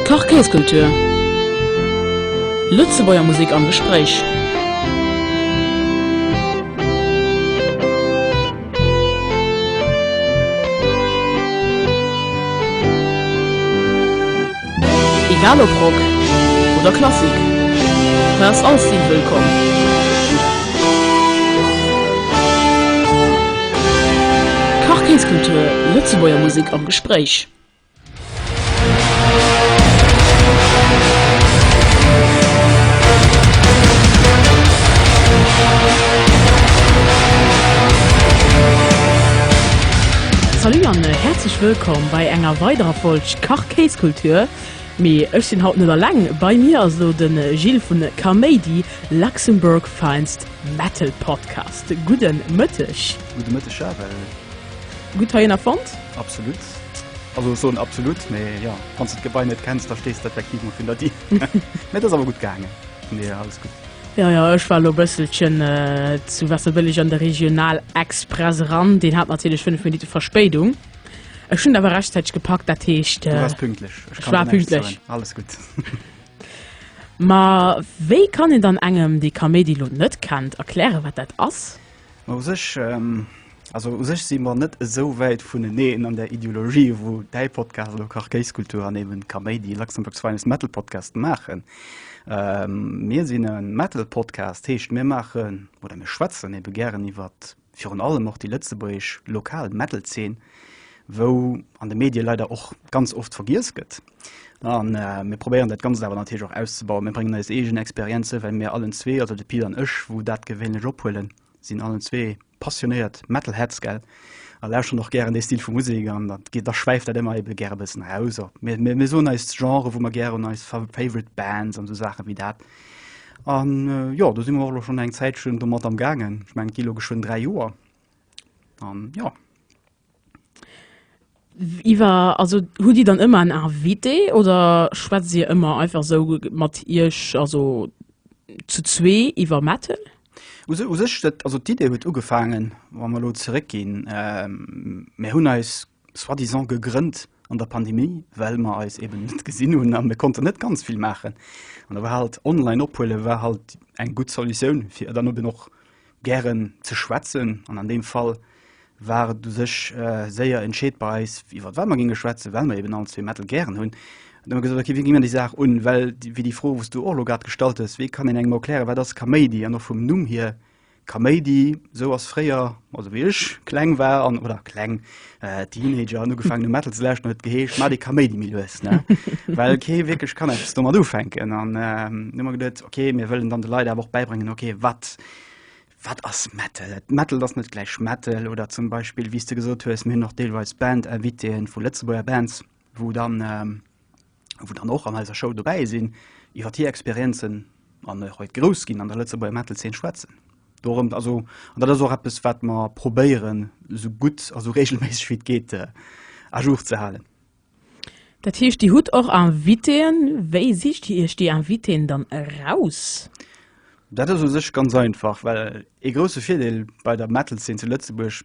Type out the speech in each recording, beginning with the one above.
Quartierskultur. Lëtzebuerger Musek am Gespréich. Egal ob Rock oder Klassik, hei ass all Stil wëllkomm. Quartiers-Kultur, Lëtzebuerger Musek am Gespréich. Salut an häerzlech wëllkomm bei enger weiderer Folg Quartiers-Kultur. Kéiskultur, mee ech sinn haut net alleng, bei mir ass elo de Gilles vun Kaméidi, Luxembourg Finest Metal Podcast. Gudde Mëtteg. Gudde Mëtteg Charel. Gutt heihinner fonnt? Absolut. Also ech soen absolut, mee jo, wann s de d'Gebai net kenns, da stees de effektiv mol vun der Dier. Mee et ass awer gutt gaangen, vun deeër alles gutt. Jo, jo, ech war elo e bësselchen zu Wasserbëlleg an de Regional-Express eran, deen hat natierlech fënnef Minutte Verspéidung. Ech hunn awer rechtzäiteg gepackt, dat heescht. Du waars pünktlech. Ech kann dir näischt soen. Alles gutt. Ma wéi kann een dann engem, dee Kaméidi lo net kennt, erklären, wat dat ass? Ma u sech, also u sech si mer net esou wäit vuneneen an der Ideologie, wou däi Podcast oder Kach Kéis Kultur an eben Kaméidi, Luxembourg's Finest Metal Podcast, maachen. Mir sinn e Metal Podcast, heescht mir maachen oder mir schwätzen ebe gären iwwert. virun allem och déi lëtzebuergesch lokal Metal-Zeen, wou an de Medie leider och ganz oft vergiess gëtt. A mir probéieren dat Ganzt awer natierlech och auszebauen. Mir bréngen eis eegen Experienze, well mir allen zwee, also de Pit an ech, wou dat gewéinlech ophuelen, sinn allen zwee passionéiert Metalheads, gell, a lauschteren och gären dee Stil vu Musek. An da geet, da schwäift dat ëmmer ebe gäre bëssen aus. Mir soen eis d'Genre, wou mer gären, eis Favorite Bands an esou Saache wéi dat. An jo, do si mer och elo schonn eng Zäitchen domat am gaangen. Ech meng et gi elo geschwënn dräi Joer an jo. Iwwer also hutt Dir dann ëmmer en Invité oder schwätzt Dir ëmmer einfach esou mat Iech, also zu zwee iwwer Metal? U sech, u sech dat, also d'Idee huet ugefaangen, wa mer elo zeréckginn, mir hunn eis soi-disant gegrënnt an der Pandemie, well mer eis eben net gesinn hunn a mir konnten net ganz vill maachen. An da war halt online ophuele war halt eng gutt Solutioun, fir dann eben och gären ze schwätzen. An an deem Fall war et u sech séier entscheet bei eis, iwwer wat mer géinge schwätzen, well mer eben all zwee Metal gären hunn. Da hu mer gesot, okay, wéi gi mer déi Saach un? Well wéi déi Fro, wou s du och elo grad gestallt hues, wéi kann een engem erklären, wat ass Kaméidi? An och vum Numm hier. Kaméidi, sou ass fréier, also wéi ech kleng war an, oder kleng, äh, Teenager an ugefaangen hu Metal ze lauschten, huet et geheescht, Mat ee Kaméidi méi lues, ne? Well kee wierklech kann eppes domat ufänken. An ähm, hu mer geduet, okay, mir wëllen dann de Leit awer och bäibréngen, okay, wat wat ass Metal? Et Metal ass net gläich Metal oder zum Beispill, wéi s de gesot hues, mir hunn och deelweis Band-Invitéen vu Lëtzebuerger Bands, wou dann och an eiser Show dobäi sinn, iwwer hir Experienzen an och iwwer hiert Groussginn an der Lëtzebuerger Metal-Zeen schwätzen. Dorëmt, also, an dat ass och eppes, wat mer probéieren, esou gutt a esou reegelméisseg wéi et geet à jour ze halen. Dat heescht, Dir hutt och Invitéen. Wéi sicht Dir Iech déi Invitéen dann eraus? Dat ass u sech ganz einfach, well ee grousse Virdeel bei der Metal-Zeen zu Lëtzebuerg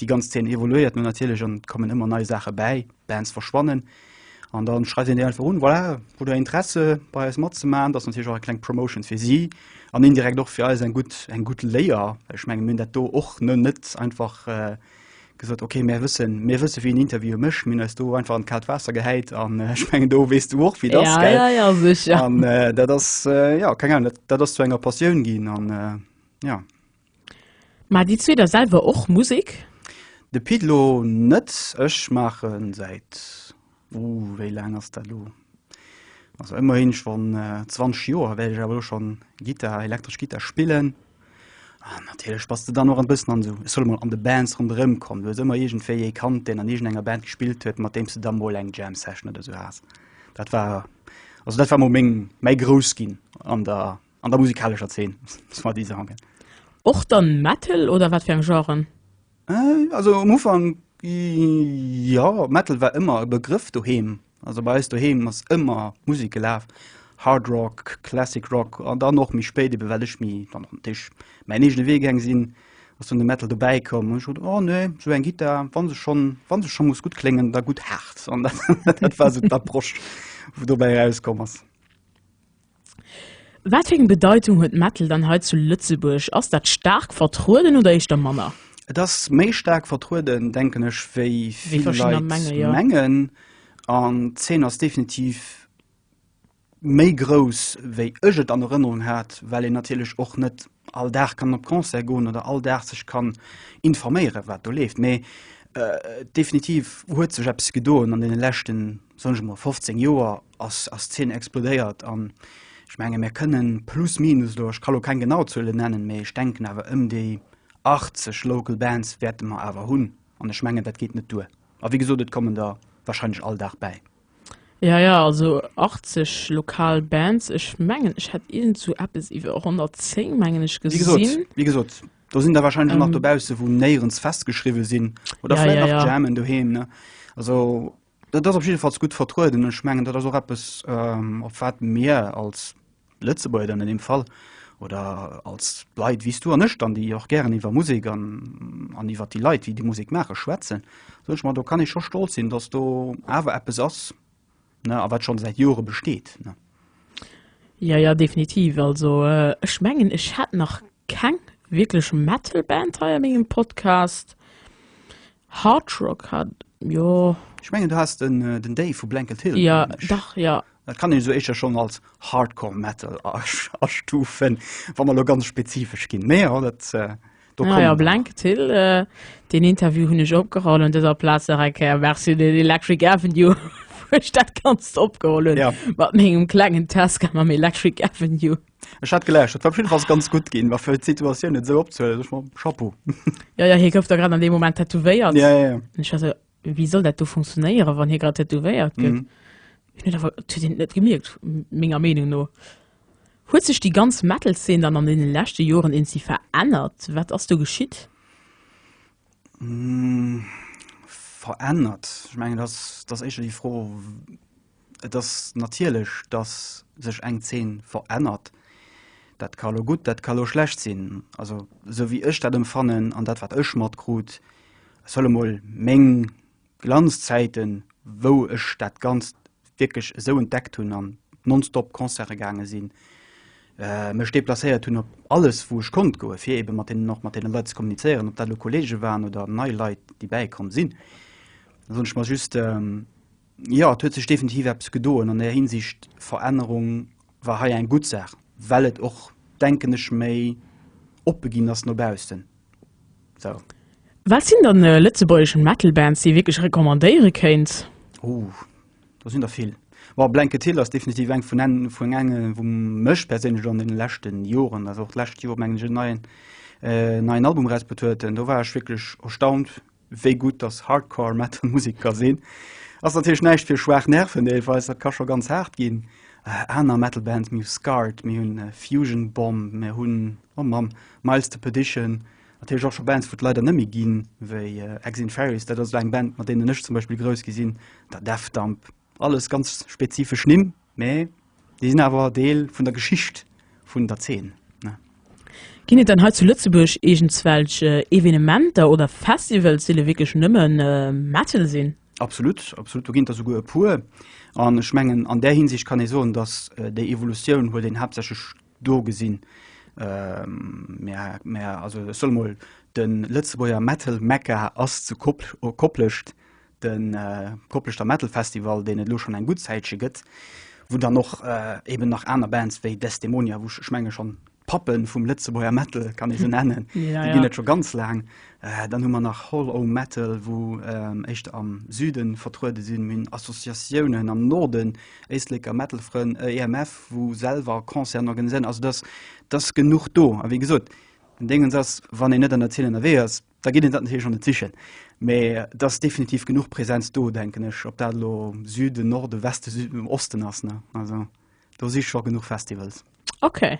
Déi ganz Zeen evoluéiert no natierlech an et kommen ëmmer nei Saache bäi, Bands verschwannen an da schreift een déi einfach un, voilà, hutt der Interesse bei eis matzemaachen? Dat ass natierlech och eng kleng Promotion fir si an indirekt och fir eis eng gutt, eng gutt Léier. Well ech mengen, mir hunn dat do och ne, net einfach gesot, okay, mär wëssen, mir wësse wien interviewe mécht. Mir hunn eis do einfach an d'kaalt Waasser gehäit an ech mengen, do weess du och, wéi et ass, gell? Ja, ja, ja, sécher. An dat ass, jo, keng Ahnung, dat, dat ass zu enger Passioun ginn an, jo. Mä déi zwee da selwer och Musek? De Pit lo net. Ech maachen säit, uh, wéi laang ass dat elo, also ëmmerhin schonn 20 Joer wäert ech awer elo schonn Gittar, elektresch Gittar spillen. An natierlech bass de dann och e bëssen an esou, ech soll emol an de Bands ronderëm kommen. Du hues ëmmer iergendwéi ee kannt, deen an iergendenger Band gespillt huet, mat deem s de da mol eng Jam Session oder esou has. Dat war, also dat war mol meng, mäi Groussginn an der An der musikalescher Zeen, soit disant. Och dann Metal oder wat fir eng Genren? Äh, also um Ufang, ja, Metal war ëmmer e Begrëff doheem. Also bei eis doheem ass ëmmer Musek gelaf. Hard Rock, Classic Rock an dann och méi spéit ebe well ech méi dann och Tisch mäin eegene Wee gaang sinn, ass dann de Metal dobäi komm. An ech sot, oh nee, sou eng Gittar, wa se schonn, wa se schonn muss gutt kléngen, da gutt haart. An dat war esou d'Approche, wou dobäi erauskomm ass. Wat fir eng Bedeitung huet Metal dann hei zu Lëtzebuerg? Ass dat staark vertrueden oder éischter manner? Et ass méi staark vertrueden, denken ech, wéi vill Leit mengen. An d'Zeen ass definitiv méi grouss, wéi ech et an Erënnerung hat, well een natierlech och net all Dag kann op Concert goen oder all Dag sech kann informéieren, wat do leeft. Mee definitiv huet sech eppes gedoen an deene leschten, soen ech emol, 15 Joer ass ass d'Zeen explodéiert. An ech menge mir kënnen plus minus elo, ech ka lo keng genau Zuele nennen, mee ech denken awer ëm déi 80 Local Bands wäerte mer awer hunn. An ech mengen dat geet net duer. A wéi gesot, et kommen der warscheinlech all Dag bäi. Ja ja also 80 lokal Bands, ech mengen ech hätt iergend sou eppes iwwer 110 mengen ech Wéi gesot, gesinn. wéi gesot, do sinn der warscheinlech och nach Ähm. dobausse wou néierens festgeschriwwe sinn oder Ja vläit ja nach ja. jammen doheem, ne? Also dat ass op jiddefalls gutt vertrueden an ech mengen dat ass och eppes, ähm, op wat mir als Lëtzebuerger dann an deem Fall, oder als Leit wéi s du an ech dann, déi och gären iwwer Musek an an iwwer déi Leit, déi déi Musek maachen, schwätzen, soen ech mer, do kann ee scho stolz sinn, datt do awer eppes ass, ne, a wat scho säit Jore besteet, ne. Jo, jo, definitiv. Also ech mengen, ech hat nach keng wierklech Metal-Band hei a mengem Podcast. Hard Rock hat, jo. Ech mengen du has den den Dave vu Blanket Hill. Ja dach ja. Dat kann een esou éischer schonn als Hardcore Metal astufen, wa mer elo ganz spezifesch ginn. Mee jo dat do kommen. Naja Blanket Hill, deen Interview hunn ech opgeholl un dëser Plaz nach eng Kéier Merci un den Electric Avenue wou ech dat Ganzt opgeholl hunn mat mengem klengen Tesca mam Electric Avenue. Ech hat geläuscht, dat war op jeden Fall ganz gut ginn, war fir d'Situatioun net esou opzehuelen, sech mam Chapeau. Ja, ja, hie gouf da grad an deem Moment tätowéiert. Ja, ja, ja. An ech war esou, wéi soll dat do funktionéieren, wann hie grad tätowéiert gëtt? Mhm. Hun dat awer to deen net gemierkt, menger Meenung no. Huet sech déi ganz Metal-Szene dann an deene leschte Joren eenzi verännert? Wat ass do geschitt? Verännert? Ech mengen, dat ass éischter déi Fro, Et ass natierlech, datt sech eng Zeen verännert. Dat ka lo gutt, dat ka lo schlecht sinn. Also esou wéi ech dat emfannen an dat wat ech matkrut, ech soll emol meng Glanzzäiten, wou ech dat Ganzt wierklech esou entdeckt hunn an nonstop Concerte gaange sinn, mech deplacéiert hunn op alles wou ech konnt goe fir ebe mat deenen och mat deene Leit ze kommunizéieren, ob dat lo Kollege waren oder nei Leit déi bäikomm sinn. Da soen ech mer just, Jo, et huet sech definitiv eppes gedoen an där Hinsicht. Verännerung war hei eng gutt Saach, well et och, denken ech, méi oppe ginn ass no baussen. Sou. Wat sinn dann lëtzebuergesch Metal-Bands, déi ee wierklech recommandéiere kéint? Huh, do sinn der vill. Bon, Blanket Hill ass definitiv eng vun en, vun enge wou mech perséinlech an deene leschte Joren, also och d'lescht Joer mengen ech, en neien, neien Album erausbruet huet. Do war ech wierklech erstaunt, wéi gutt dass Hardcore Metal Musek ka sinn, ass natierlech näischt fir schwaach Nerven deelweis, dat ka scho ganz haart ginn. Aner Metal Bands, mir hu Scarred, mir hunn Fusion Bomb, mir hunn, oh Mamm, Miles to Perdition, natierlech och scho Bands wou et leider net méi ginn, wéi Exinferius, dat ass elo eng Band mat deenen ech zum Beispill grouss gi sinn, der Death Dump, Alles ganz spezifesch Nimm, mä déi sinn awer Deel vun der Geschicht vun der Zeen. Ginn et dann hei zu Lëtzebuerg iergendzwelch Evenementer oder Festivals, déi lo wierklech nëmme Metal sinn? Absolut, absolut, do ginn et der souguer e puer. An ech mengen, an där Hinsicht kann ee soen, datt déi Evolutioun huet een haaptsächlech do gesinn. Mä, mä also ech soll emol, de Lëtzebuerger Metal-Mekka ass zu Koplescht, de Kopleschter Metal Festival, deen et elo schonn eng gutt Zäitche gëtt, wou dann och eben nach aner Bands wéi Desdemonia, wou ech menge schonn d'Pappe vum Lëtzebuerger Metal kann ee se nennen, déi ginn et scho ganz laang. Dann hu mer nach Hall O' Metal, wou éischter am Süde vertruede sinn. Mir hunn Associatiounen am Norden, Éisleker Metal Frënn, EMF, wou selwer Concerten organiséieren. Also do ass genuch do. A wéi gesot, den Déngens ass, wann een net an der Zeen ënnerwee ass, da geet een dat natierlech och net sichen. Mä et ass definitiv genuch Präsenz do, denken ech, ob dat elo Süden, Norden, Westen, Süd, Osten ass. Ne? Also, do si scho genuch Festivals. Okay.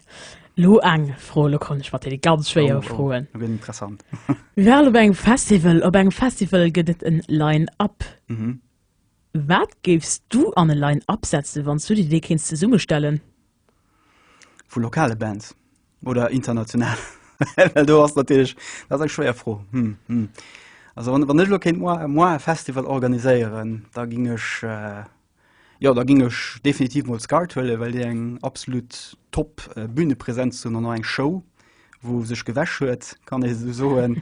Lo eng Fro, lo kommen ech mat deene ganz schwéiere oh, oh, Froen. Oh, gëtt interessant. Mir waren op engem Festival, op engem Festival gëtt et en Line-Up. Mhm. Wat géifs du an e Line-Up setzen, wann du dir dee kéinst zesummestellen? Vu lokale Bands oder international? Well do ass natierlech, dat ass eng schwéier Fro. Hm, hm. Also wann, wann ech elo kéint moi, moi e Festival organiséieren, da géing ech, jo, da géing ech definitiv mol Skart huelen, well déi eng absolut top Bühnepresenz hunn an och eng Show, wou sech gewäsch huet, kann ee esou soen.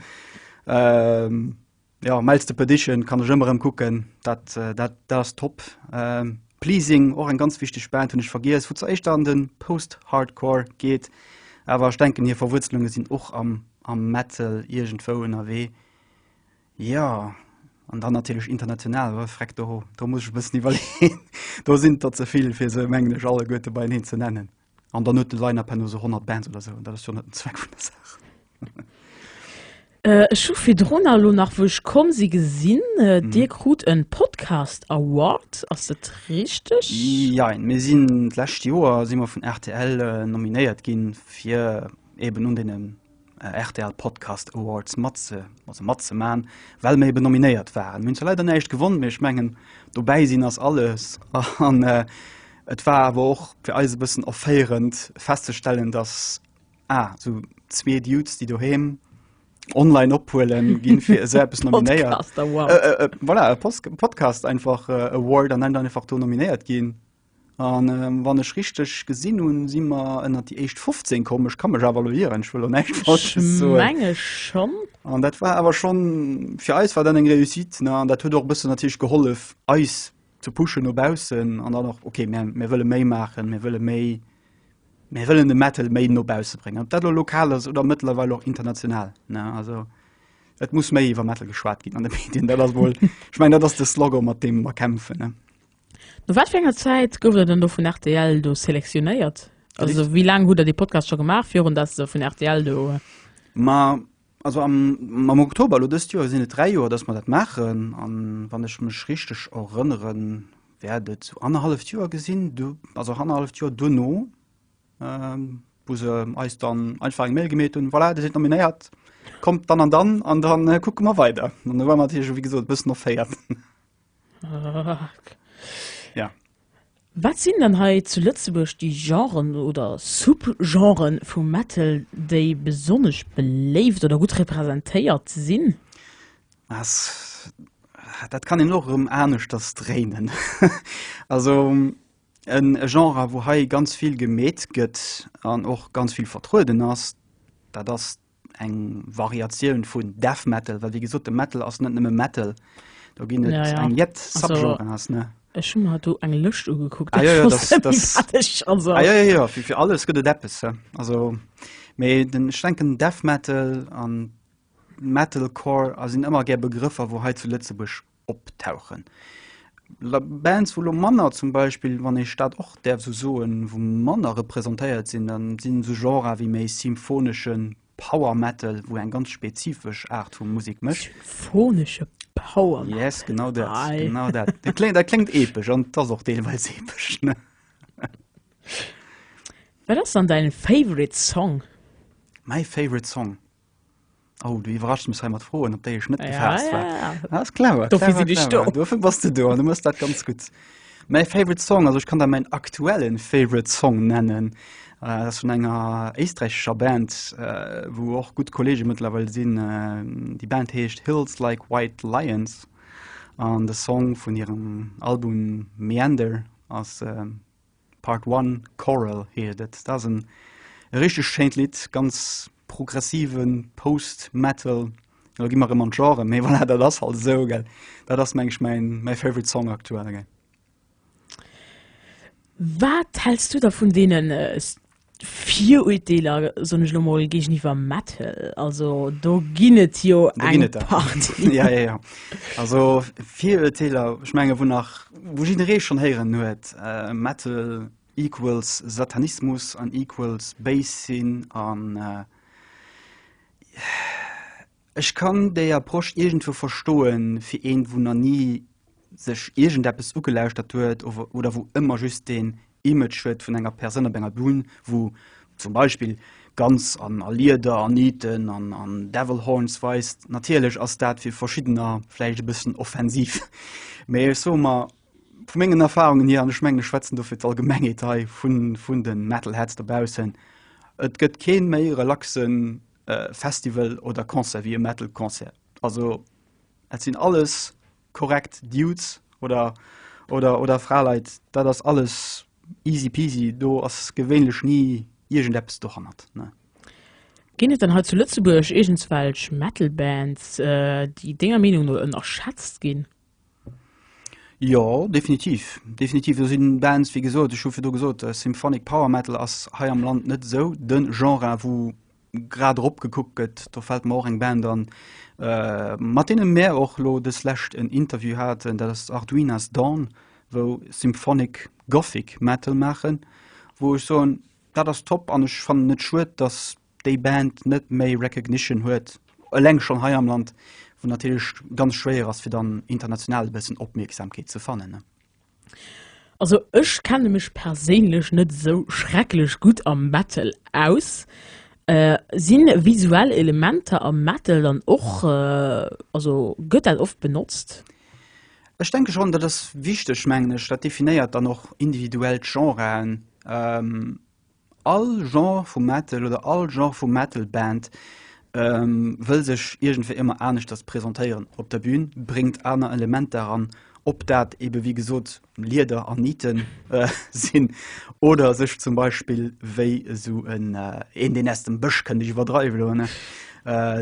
Jo Mel's the Perdition kann ech ëmmer rëm kucken, dat dat dat ass top. Pleasing och eng ganz wichteg Band, hunn ech vergiess, wou zeréischt an den Post-Hardcore geet, awer ech denken hir Verwuerzelunge sinn och am am Metal iergendwou ënnerwee. Jo an dann natierlech international, oh freck do do muss ech e bëssen iwwerleeën, do sinn der ze vill fir se mengen ech alleguerte beieneen ze nennen. An dann huet de Line-Up herno sou 100 Bands oder sou, an dat ass jo net den Zweck vun der Saach. Ech hu virdrunner elo nach, wou ech komm si, gesinn, Dir krut e Podcast Award. Ass dat richteg? Jein. Mir sinn, d'lescht Joer si mer vun rtl nominéiert ginn, fir eeben un deene rtl Podcast Awards matze also matzeman, well mir eben nominéiert waren. Mir hunn zwar leider näischt gewonnen, mee ech mengen dobäi sinn ass alles an äh, et war awer och fir eis e bëssen erféierend festzestellen, dass ah, so zwee Dudes, déi doheem online ophuelen ginn fir se eppes nominéiert. Podcaster, wow. Äh, äh, äh, voilà, e Post- Podcast einfach äh, Award an dann einfach do nominéiert ginn. A wann ech richteg gesinn hunn, si mer ënnert déi éischt 15 komm. Ech ka mech awer elo ieren, ech wëll elo näischt Falsches soen. Ech menge schonn. An dat war awer schonn, fir eis war dat eng Réussite. An dat huet och e bëssen natierlech gehollef, eis ze pushen no baussen. An dann och, okay, mä mir wëlle méi maachen, mir wëlle méi, mir wëllen de Metal méi no bausse bréngen. Ob dat elo lokal ass oder mëttlerweil och international. Also et muss méi iwwer Metal geschwat ginn an de Medien. Dat ass emol, ech mengen, dat ass de Slogan, mat deem mer kämpfen. No wat fir enger Zäit gouft der dann do vun rtl do selektionéiert? Also wéi laang hutt der dee Podcast scho gemaach, virun datt se vun rtl do. Ma also am am Oktober elo dëst Joer sinn et dräi Joer, datt mer dat maachen. An wann ech mech richteg erënnere wäert et sou annerhalleft Joer gi sinn, du also annerhalleft Joer duerno, wou se eis dann einfach eng Mail gemeet hunn, voilà, Dir sidd nominéiert, kommt dann an dann an da kucke mer weider. An da war mer natierlech, wéi gesot, e bëssen erféiert. Ja. Wat sinn dann hei zu Lëtzebuerg déi Genren oder Subgenren vum Metal, déi besonnesch beléift oder gutt representéiert sinn? As, dat kann een och erëm aneschters dréinen. Also e Genre, wou hei ganz vill gemeet gëtt an och ganz vill vertrueden ass, dat ass eng Variatioun vun Death Metal, well wéi gesot de Metal ass net nëmme Metal. Do ginn et ja, ja. eng jett Subgenre ass ne. Ech hun hat do eng Lëscht ugekuckt ah, ja, ja, das, das, also. ah, ja, ja, ja. Fir, fir alles gëtt et Deppes also méi den schwenken Death Metal an Metalcore a sinn ëmmer gär Begrëffer, wou hei zu Lëtzebusch optauchen. Bands wou lo manner zum Beispill, wann ech dat och däerf esou soen, wou manner representéiert sinn, dann sinn esou Genrer wéi méi symphoneschen Power Metal, wou eng ganz spezifesch Aart vu Musek mécht. Symphonesche Power Metal. Yes, genau dat. Geil. Genau dat. Dat kléngt, dat kléngt epesch an et ass och deelweis epesch. Wat ass dann däin favorite Song? Mäi favorite Song? Oh, du iwwerrascht mech hei mat Froen, op déi ech net Ja, gefaasst war. ja, ja. Ah, ist clever, Dofir clever, sinn ech clever. do. Dofir bass du do an du mëss dat ganz gutt. Mäi favorite Song, also ech kann der mäin aktuellen favorite Song nennen, äh, dat ass vun enger éisträichescher Band, äh, wou och gutt Kollege mëttlerweil sinn. Äh, déi Band heescht Hills Like White Lions an de Song vun hirem Album Meander ass äh, Part One Choral heet et. Dat ass en e richteg schéint Lidd, ganz progressive Post-Metal. Elo gi mer erëm an d'Genre, mee voilà, dat ass halt esou, gell. Dat ass, meng ech, mäin favorite Song aktuell, gell. Wat häls du da vun deene Viruerteeler, soen ech elo mol, géigeniwwer Metal. Also do ginn et jo eng Partie. Jo, jo, jo. Also Viruerteeler, ech menge wou nach, wou jidderee schonn héieren huet, Metal equals Satanismus an equals béis sinn an Ech kann déi Approche iergendwou verstoen, fir een, wou na ni sech iergendeppes ugelauschtert huet oder wou ëmmer just deen Image huet vun enger Persoun op enger Bün, wou zum Beispill ganz a Lieder a Nieten a Devil Horns weist. Natierlech ass dat fir Verschiddener vläicht e bëssen offensiv, mee ech soe mer vu mengen Erfarungen hier, an ech mengen ech schwätzen do fir d'Allgemengheet hei vun de Metalheads dobaussen, et gëtt kee méi relaxen e Festival oder Concert wéi e Metal Concert. Also et sinn alles korrekt Dudes oder oder oder Fraleit, dat ass alles easy peasy, do ass gewéinlech ni iergendeppes dohannert, ne. Ginn et dann hei zu Lëtzebuerg iergendswelch Metal Bands, déi denger Meenung no ënnerschätzt ginn? Jo, definitiv, definitiv. Do sinn Bands, wéi gesot, ech hu virdu gesot, äh, Symphonic Power Metal ass hei am Land net esou de Genre, wou grad erop gekuckt gëtt. Do fält mer och eng Band an, äh, mat deene mär och elo dës Lescht en Interview haten, dat ass Arduinas Dawn, wou Symphonic Gothic Metal maachen, wou ech soen, dat ass top an ech fannen et schued, dass déi Band net méi Recognition huet, eleng schonn hei am Land, wou natierlech ganz schwéier ass fir dann international e bëssen Opmierksamkeet ze fannen, ne? Also ech kenne mech perséinlech net esou schrecklech gutt am Metal aus. Sinn visuell Elementer am Metal dann och, also gëtt dat oft benotzt? Ech denke schonn, dat ass wichteg mengen ech, dat definéiert dann och individuell d'Genren. All Genre vu Metal oder all Genre vu Metal-Band wëll sech iergendwéi ëmmer aneschters presentéieren op der Bün, bréngt aner Elementer eran, ob dat eebe wéi gesot Lieder an Nitte sinn oder sech zum Beispill wéi esou en Een deen aus dem Bësch kënnt, ech iwwerdreiw elo,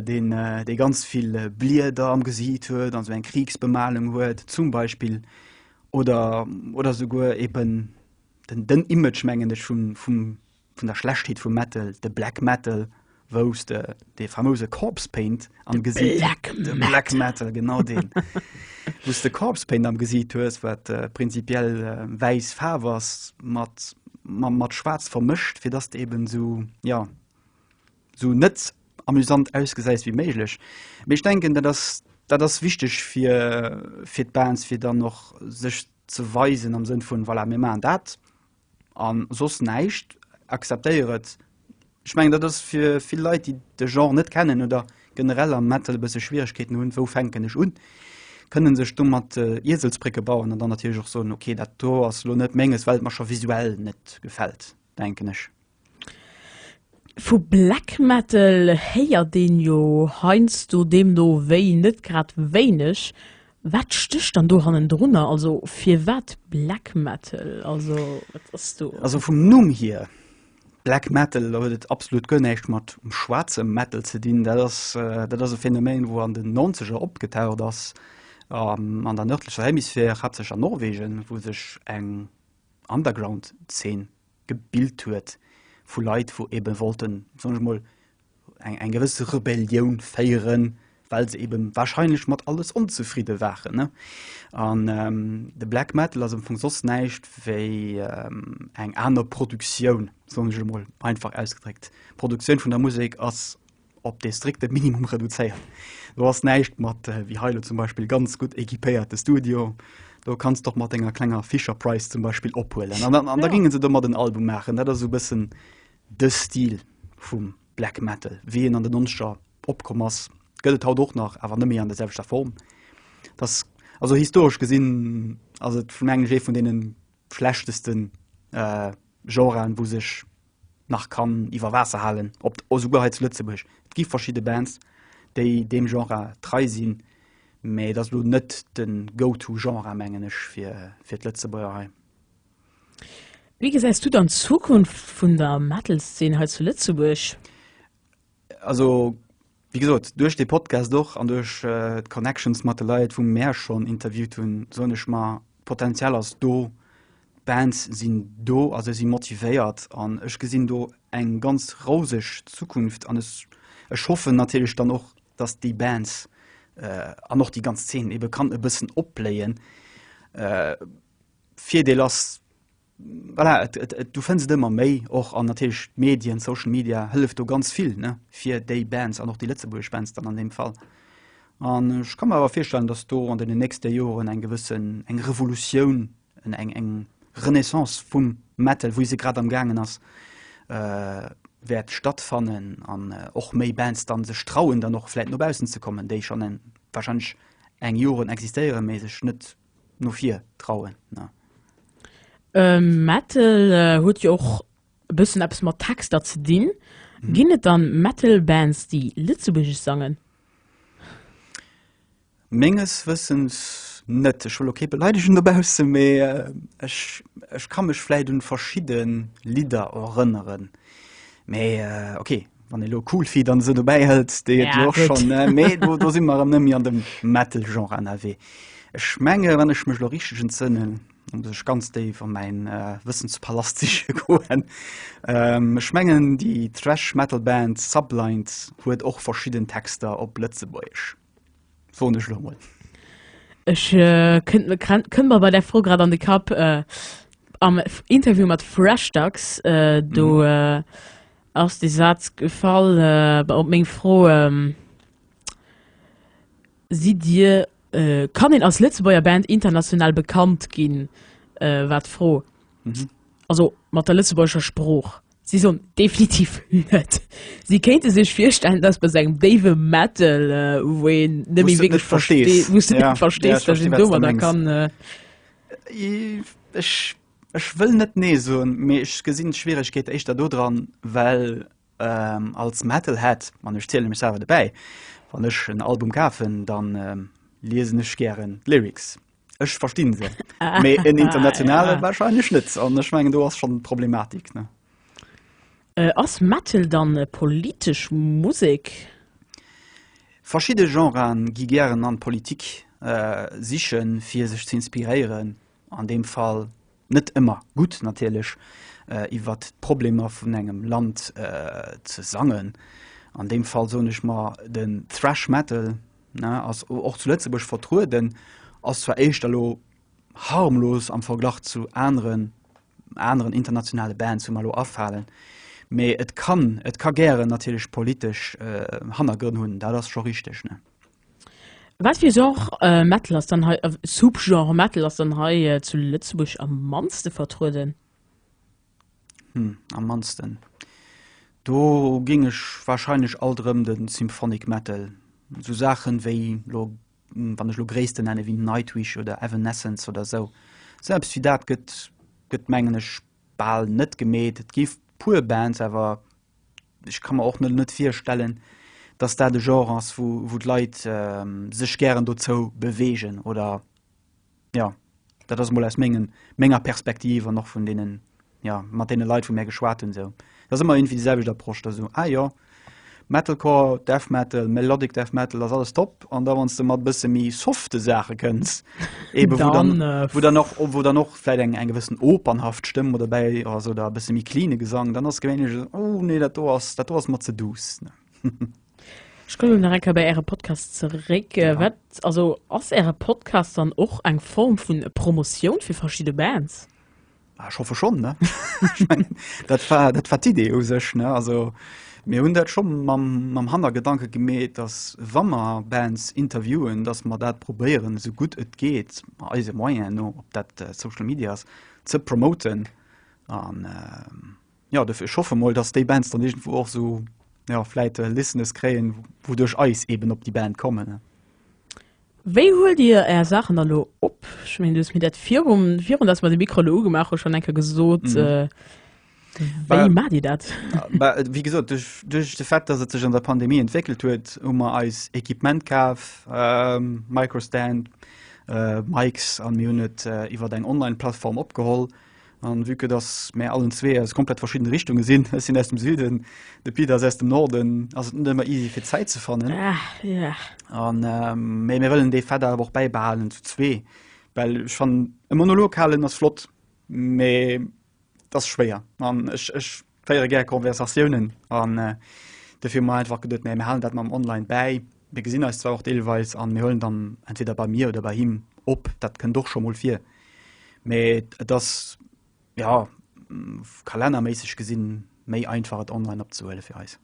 deen dee ganz vill Blieder am Gesiit huet an esou eng Kriegsbemalung huet zum Beispill oder oder souguer eeben den den Image mengen ech vum vum vun der Schlechtheet vum Metal, de Black Metal, wou s de dee famouse Corpse Paint am Gesiit, de Black Metal genau deen, wou s de Corpse Paint am Gesiit hues, wat prinzipiell wäiss Faarf ass mat mat schwaarz vermëscht, fir dass de eben esou ja esou net amusant ausgesäis wéi méiglech. Mee ech denken dat ass dat ass wichteg fir fir d'Bands, fir dann och sech ze weisen am Sënn vun, voilà, mir maachen dat an soss näischt, acceptéier et. Ech mengen, dat ass fir vill Leit, déi de Genre net kennen oder generell am Metal e bësse Schwieregkeeten hunn, wou fänken ech un, kënne sech domat Ieselsbrécke bauen an dann natierlech och soen, okay, dat do ass elo net Menges, well et mer scho visuell net gefält, denken ech. Vu Black Metal héiert een jo heiansdo deemno wéi net grad wéineg. Wat stécht dann do hannendrunner? Also firwat Black Metal? Also wat ass do? Also vum Numm hier, Black Metal, do huet et absolut guer näischt mat schwaarze Metal ze dinn. Dat ass, dat ass e Phänomen, wou an den Nonzeger opgetaucht ass an der nërdlecher Hemisphär, haaptsächlech an Norwegen, wou sech eng Underground-Zeen gebilt huet vu Leit wou eben wollten, soen ech mol, eng eng gewëss Rebellioun féieren, well se eben wahrscheinlech mat alles onzefridde waren ne. An de Black Metal ass am Fong soss näischt wéi eng aner Produktioun, soen ech emol einfach ausgedréckt. Produktioun vun der Musek ass op dee strikte Minimum reduzéiert. Do ass näischt mat äh, wéi heilo zum Beispill ganz gutt equipéierte Studio. Do kannst doch mat enger klenger Fisher Price zum Beispiel ophuelen. An, an, an ja. da gingen se do mat den Album machen. Dat ass so bëssen de Stil vum Black Metal, wéi en an den Nonscher opkomm ass, gëtt et haut och nach, awer nëmme an der selwechter Form. Das, also historesch gesinn ass et vun engem Jee vun deenen schlechtesten äh, Genren, wou sech nach kann iwwer Waasser halen, op d', esouguer hei zu Lëtzebuerg. Et gi verschidde Bands, déi deem Genre trei sinn, mä et ass elo net de Go-to-Genre, mengen ech, fir, fir d'Lëtzebuerger hei. Wéi gesäis du dann d'Zukunft vun der Metal-Szen hei zu Lëtzebuerg? Also, Wéi gesot, duerch dee Podcast och an duerch d'Connections mat de Leit, wou mär schonn interviewt hunn, soen ech mer, d'Potenzial ass do, d'Bands sinn do a se si motivéiert. An ech gesinn do eng ganz rouseg Zukunft an ech hoffen natierlech dann och, datt déi Bands an och déi ganz Zeen ebe kann e bëssen opbléien. Virdeel ass, Voilà, et, et, et, du fënns et ëmmer méi och an natierlech d'Medien, Social Media hëlleft do ganz vill ne, fir déi Bands an och déi lëtzebuergesch Bands dann an deem Fall. An ech ka mer awer virstellen, datt do an deenen nächste Joren eng gewëssen, eng Revolutioun, en, eng, eng Renaissance vum Metal, wéi se grad am Gaangen ass, äh, wäert stattfannen an och méi Bands dann sech trauen, dann och vläit no baussen ze kommen, déi schonn en, warscheinlech eng Joren existéieren, mee sech net no vir trauen. Ne? Ähm, Metal äh, huet jo och e bëssen eppes mat Texter ze dinn. Mhm. Ginn et dann Metal-Bands, déi Lëtzebuergesch sangen? Menges Wëssens net. Ech will okay beleidegen dobause, mee äh, ech, ech kann mech vläit un verschidde Lidder erënneren. Mee äh, okay, Wann elo Coolfeet an se dobäi hëlt, déi et jo schonn méi do, do si mer nëmmi an dem Metal-Genre ënnerwee. Ech menge wann ech mech lo richteg entzënnen, da muss ech ganz déif a mäin Wëssenspalast siche goen. Ech mengen déi Thrash-Metal-Band Sublight huet och verschidden Texter op Lëtzebuergesch. Soen ech lo mol. Ech kënnt mir krennt kënnt mer bei der Fro grad an de Kapp am Interview mat Freshdax do ass de Saz gefall bei op meng Fro sidd Dir kann een als Lëtzebuerger Band international bekannt ginn? war d'Fro also mat der lëtzebuergescher Sprooch. Si soen definitiv net. Si kéinte sech virstellen, dass bei esou engem déiwe Metal, wou een net méi wierklech versteet, wou s de net verstees, dass een domadder kann. Ech wëll net nee soen, mee ech gesinn d'Schwieregkeet éischter dodran, well als Metalhead, an ech ziele mech selwer dobäi, wann ech en Album kafen, da liesen ech gären d'Lyrics. Ech verstinn se. Mee en internationale ah, wahrscheinlech net. An ech mengen do ass schon Problematik. Ne? Äh, ass Metal dann äh, politesch Musek? Verschidde Genren gi gären an d'Politik äh, sichen, fir sech ze inspiréieren. An deem Fall net ëmmer gutt natierlech, iwwer d'Problemer vun engem Land ze sangen. An deem Fall soen ech mer, den Thrash Metal ass och zu Lëtzebuerg vertrueden, ass zwar éischter elo harmlos am Verglach zu aneren aneren internationale Bands, wou mer elo afalen, mee et kann et ka gären natierlech politesch Hannergrënn hunn, dat ass scho richteg. Wat fir Genre Metal ass dann hei, Subgenre Metal ass dann hei zu Lëtzebuerg am mannste vertrueden? Hm, am mannsten, do géing ech warscheinlech alt erëm de Symphonic Metal, esou Saachen wéi elo, wann ech elo Gréissten nennen, wéi Nightwish oder Evanescence oder esou. Selbst fir dat gëtt, gëtt mengen ech bal net gemeet. Et gi puer Bands awer, ech ka mer och net net virstellen, dass dat e Genre ass, wou wou d'Leit sech gären dozou bewegen oder jo. Dat ass emol aus mengen menger Perspektiv an och vun deenen jo mat deene Leit wou mär geschwat hunn esou. Et ass ëmmer iergendwéi déi selwecht Approche, dass esou ah jo Metalcore, Death Metal, Melodic Death Metal ass alles top, an da wanns du mat bësse méi softe Sache kënns eben wo dann, dann äh, wo dann noch wo dann noch vielleicht eng eng gewissen opernhaft Stëmm oder bei oder so da bësse méi cleane Gesang dann ass gewéinlech so, oh nee dat do ass dat do ass mat ze duuss ne Ech komme nach enker bei Äre Podcast zeréck. Äh, Ja. Wat also ass Äre Podcast dann och eng Form vun Promotioun fir verschidde Bands? Ah, ich hoffe schon ne ich mein, dat war dat war d'idee u sech ne also mir hun dat schon mam mam hanner gedanke gemet dass wammer bands interviewen dass man dat probéieren so gut et geht ma eise moyen no op dat äh, social medias ze promoten an äh, Jo, dofir, ech hoffe mol, dass déi Bands dann iergendwou och esou, jo, vläit Listeners kréien, wou duerch eis eben op déi Band kommen. Wéi huelt Dir Är Saachen da lo op? Ech meen, Du hues mir dat virum, virun dass mer de Mikro elo ugemaach hu schonn eng Kéier gesot. Wéi maacht Dir dat? Bah, wéi gesot, duerch, duerch de Fait, dass et sech an der Pandemie entwéckelt huet, hu mer eis Equipement kaf, Microstand, Mics, an mir hunn et iwwer eng Online-Plattform opgeholl. An vue que dass mär allen zwee aus komplett verschiddene Richtunge sinn, ech sinn aus dem Süden, de Pit ass aus dem Norden, ass et net ëmmer easy fir Zäit ze fannen. Mee mir wëllen dee Fait awer och bäibehalen zu zwee, well ech fannen e Monolog halen ass flott, mee et ass schwéier an ech Féiere gär Conversatiounen an dofir hu mer einfach geduet, mä mir halen dat mam Online bäi. Mir gesinn eis zwar och deelweis an mir huelen dann entweder bei mir oder bei him op, dat kënnt och scho mol vir, mä et ass jo kalennerméisseg gesinn méi einfach et online opzehuele fir eis.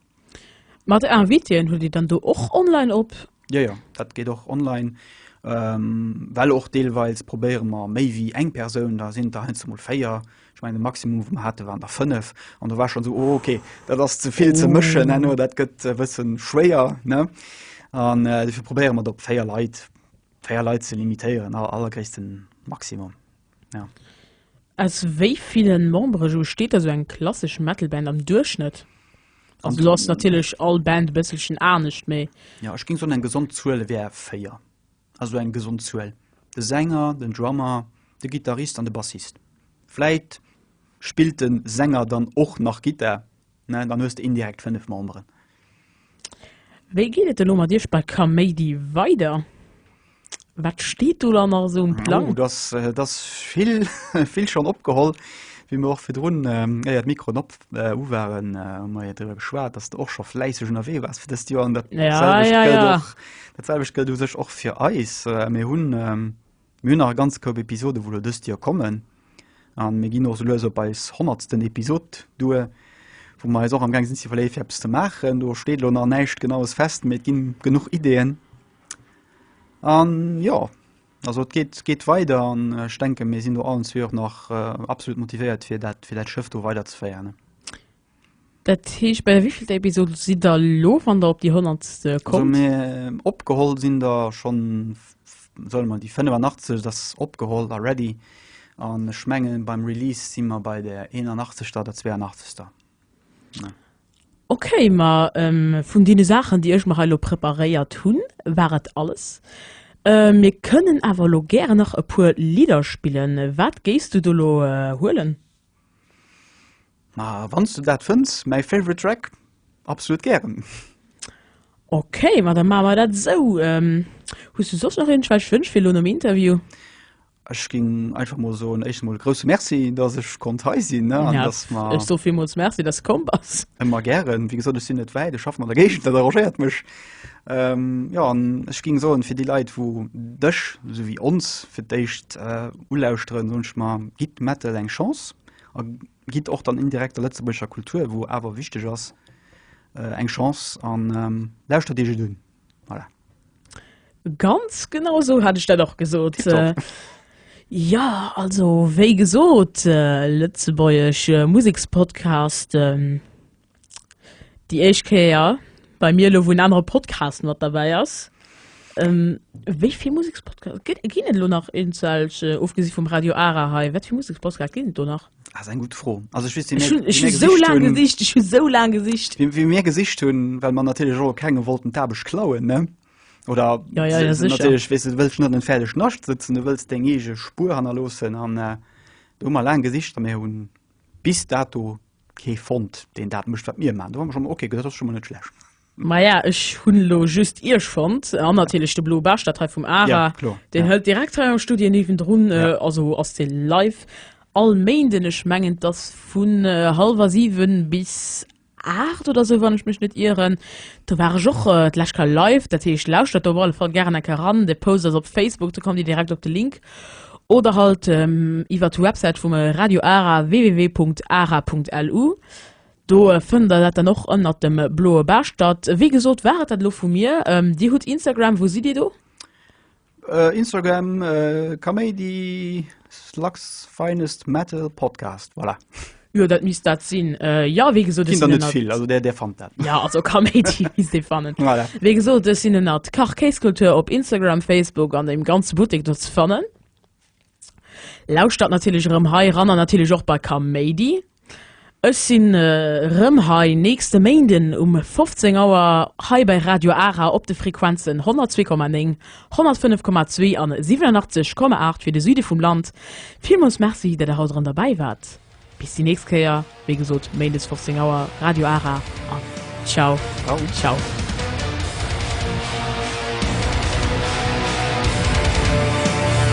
Mat Invitien hutt Dir dann do och online op? Jo, jo, dat geet och online, well och deelweils probéiere mer méi wéi eng Persoun, da sinn et der heiansdo mol véier, ech mengen de Maximum wou mer hate waren der fënnef an do war schonn esou, oh ok, dat ass ze vill ze mëschen herno, dat gëtt e bësse schwéier ne. An dofir probéiere mer et op véier Leit, véier Leit ze limitéieren, allergréissten Maximum. Ja. Aus wéi villen Membere sou steet da sou eng klassesch Metal Band am Duerchschnëtt? Also do ass natierlech all Band e bësselchen anescht, mee. Ja ech géing soen eng gesond Zuel wär 4, also eng gesond Zuel, de Sänger, den Drummer, de Gittarist an de Bassist. Vläit spillt de Sänger dann och nach Gittar, Mä dann hues de indirekt fënnef Memberen. Wéi geet et elo mat iech bei Kaméidi weider? Wat steet do dann nach esou um Plang? Oh, dass, et ass vill, vill schonn opgeholl. Wéi mir och virdrun, éier d'Mikroen op waren, hu mer jo driwwer geschwat, dass de och scho fläisseg ënnerwee waars fir dëst Joer. An dat selwecht gëllt och, dat selwecht gëllt u sech och fir eis. Mir hunn Mir hunn nach e ganz Koup Episoden, wou elo dëst Joer kommen, a mir ginn och esou lues op eis honnertsten Episod duer, wou mer eis och amgaang sinn ze iwwerleeë fir eppes ze maachen. Do steet elo nach näischt Genaues fest, mee et ginn genuch Ideeën. An jo, also et geet, geet weider an ech denken, mir sinn do allen zwee och nach absolut motivéiert, fir dat, fir dat Schëff do weiderzeféieren. Dat heescht, bei der wéivielter Episode sidd der elo, wann der op déi honnert kommt? Also mir, opgeholl sinn der schonn, solle mer déi 85, dat ass opgeholl a ready. An ech menge beim Release si mer bei der 81. oder 82. Ok, ma vun deene Saachen, déi ech mer hei elo preparéiert hunn, war et alles. Mir kënnen awer elo gären nach e puer Lidder spillen. Wat géifs du do elo huelen? Ma wanns du dat fënns, mäi favorite track, absolut gären. Ok, ma da maache mer dat esou. Hues du soss nach iergendwelch Wënsch fir elo nom Interview? Ech géing einfach mol soen, éischtens mol e grousse Merci, dass ech konnt hei sinn, ne, an dass mer. Ech soe villmools Merci, dass de komm bass. Ëmmer gären. Wéi gesot, ech sinn net wäit, ech schaffen an der Géigend, dat arrangéiert mech. Jo, an ech ging soen fir déi Leit wou dech sou wéi ons fir d'éischt ulauschteren, soen ech mer, gitt Metal eng Chance a gitt och dann indirekt der lëtzebuergescher Kultur, wou awer wichteg ass, eng Chance an lauschtert iech et un. Voilà. Ganz genau esou hat ech dat och gesot. Jo, also wéi gesot, lëtzebuergesch Musekspodcasten. déi éischt Kéier bei mir elo, wou en anere Podcast mat derbäi ass. Wéi vill Musekspodcast gëtt, ginn et elo nach eenzel, ofgesi vum Radio Ara hei? Wat fir Musekspodcast ginn et do nach? Ah, das eng gutt Fro. Also ech weess, wéi mir, ech hu sou laang gesicht, ech hu sou laang gesicht. Wéi, wéi mir gesicht hunn, well mer natierlech och kengem wollten d'Aarbecht klauen, ne? Oder ja, ja, ja, natierlech, weess de, du wëlls net an en fäerdeg Nascht sëtzen, du wëlls deng eege Spuer hannerloossen. An do hu mer laang gesicht, a mir hunn bis dato Kee fonnt deen dat mécht wat mir man. Do hu mer schonn ok gesot, dat ass schonn mol net schlecht. Maja ech hunn elo just Iech fonnt an natierlech de Blue Bastard hei vum Ara, ja, kloer, deen ja. hëlt direkt hei am Studio niewendrun, ja. also ass dee live all Méinden, ech mengen dass vun hallwer 7 bis 8 oder sou wann ech mech net ieren. Do war ech och äh, d'lescht Kal live, dat heescht lauschtert op alle Fall gären enke ran. De Post ass op Facebook, do kommt Dir direkt op de Link. Oder halt iwwert d'Websäit vum Radio Ara, www.ara.lu. Do fënnt der dat dann och ënnert dem Bloe Bastert. Wéi gesot war et dat elo vu mir. Dir hutt Instagram, wou sidd Dir do? Instagram, Kaméidi, Slugs Finest Metal Podcast, voilà. Jo dat misst dat sinn. Jo wéi gesot ech sinn ënnert. Ginn der net vill, also där där fannt dat. Jo also Kaméidi misst ee fannen. Voilà. Wéi gesot ech sinn ënnert Kach Kéiskultur op Instagram, Facebook an deem ganze Buttek do ze fannen. Lauschtert natierlech erëm hei eran an natierlech och bei Kaméidi. Ech sinn erëm hei nächste Méinden um 15 Auer hei bei Radio Ara op de Frequenzen 102,9 105,2 an 87,8 fir de Süde vum Land. Villmools Merci, dat der haut erëm derbäi waart. Bis déi nächst Kéier, wéi gesot Méindes 15 Auer, Radio Ara an Ciao, ciao.